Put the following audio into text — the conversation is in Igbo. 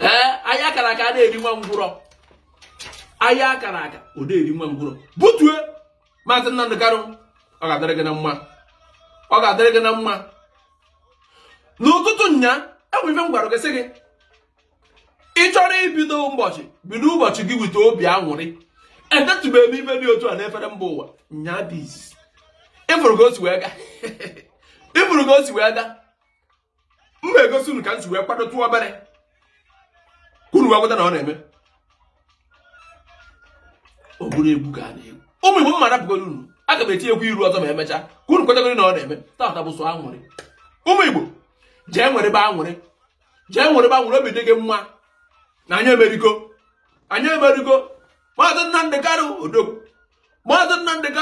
ee aya akara aka adị eri nwa ngwụrọ aya akara aka ọ dị eri nwa ngwụrọ butue maazị Nnamdị Kanụ ọ ga-adịrị gị na mma ọ ga-adịrị gị na mma n'ụtụtụ nya enwe ife m gwara gị sị gị ị chọrọ ibido ụbọchị bido ụbọchị gị with obi anwụrị etetụbeghị m ife dị otu a n'efere mba ụwa nya dis ịfụrụ ka o si wee ga ịfụrụ ka o si wee ga m na-egosi unu ka m si wee kwadotụ obere ka unu wee kweta na ọ na-eme ọ bụrụ egwu ka a na-egwu ụmụ igbo mma rapụgoro unu aga m etinyekwa iru ọzọ ma emechaa ka unu kwetagoro na ọ na-eme tata bụ sọ anwụrị ụmụ igbo jee nwụrịba anwụrị jee nwụrịba anwụrị obi dị gị mma na anyị emerigo anyị emerigo maazị Nnamdị Kanụ odogwu maazị Nnamdị Kanụ